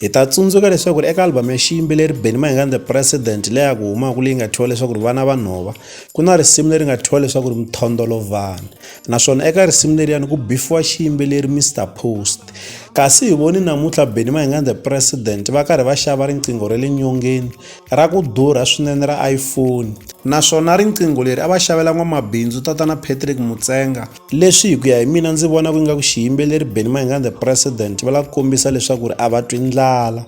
hi ta tsundzuka leswaku eka albhamu ya xiyimbeleri benny mahingani the president leya ku humaka leyi nga thyiwa leswaku ri vana va nhova ku na risimu leri nga thyiwa leswaku ri mithondolovana naswona eka risimu leriyani ku bifiwa xiyimbeleri mr post kasi hi voni namuntlha benny mahingani the president va karhi va xava riqingho ra le nyongeni ra ku durha swinene ra iphone naswona riqingho leri a va xavela n'wamabindzu tatana patrick mutsenga Leswi hi ku ya hi mina ndzi vona ku nga ku xiyimbeleri Benny Mayengani the president va lava ku kombisa leswaku ri a va twi ndlala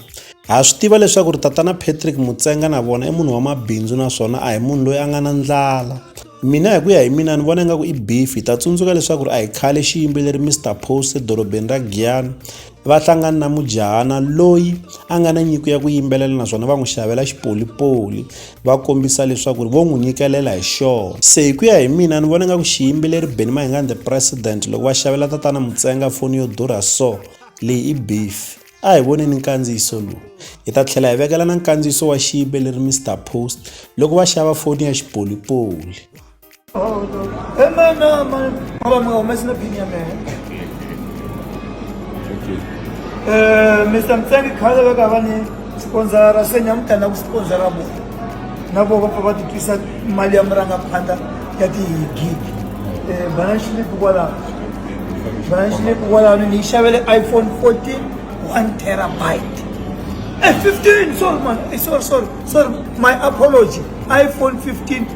ha swi tiva leswaku ri tatana Patrick Mutsenga na vona i munhu wa mabindzu naswona a hi munhu loyi a nga na ndlala mina hi ku ya hi mina ni vona ingaku i beef hi ta tsundzuka leswaku ri a hi khale xiyimbeleri Mr Post edorobeni ra Giyani va hlangana na mujahana loyi a nga na nyiko ya ku yimbelela naswona va n'wi xavela xipolipoli va kombisa leswaku vo n'wi nyikelela hi xona se hi ku ya hi mina ni vona nga ku xiyimbeleri beni mahingani the president loko va xavela tatana mutsenga foni yo durha so leyi i beef a hi voneni nkandziyiso lowu hi ta tlhela hi vekela na nkandziyiso wa xiyimbeleri mr post loko va xava foni ya xipolipoli Oh, no. Hey, man, no, man. Oh, my, I'm messing up in here, man. Eh, Mr. Mtsangi khale va ka va ni sponsora se ni amukela ku sponsora vona na vo va pfa va titwisa mali ya murangaphandla ya tihigigi um bana xilipi kwalaho bana xilipi kwalaho ni yi xavele iphone 14 one terabyte Eh, 15 sorry man Eh, sorry sorry sorry my apology iphone 15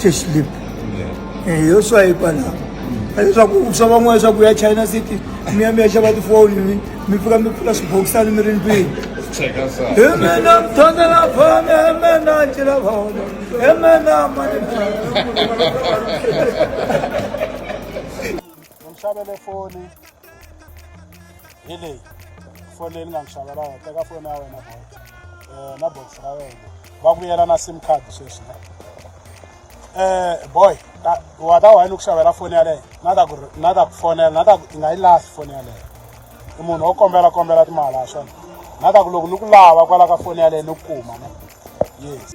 hlexlip eh, yo swayipa laha leswaku swa van'wana swa ku ya china city mi ya mi ya xava tifoni mi mi fika mi pfula swibokisani mi ri ndlwini hi mina mthondela fana hi mina ncila fona hi mina mani ni mi xavele foni hi leyi foni leyi ni nga mi xavela yona teka foni ya wena boy um na box ra wena va vuyela na sim card sweswi na um boy wa ta why ni ku xavela foni yaleyo na ta ku na ta ku fonela na ta ku i nga yi lahli foni yaleyo i munhu wo kombela kombela timali ha swona na ta ku loko ni ku lava kwala ka foni yaleyo ni ku kuma ne yes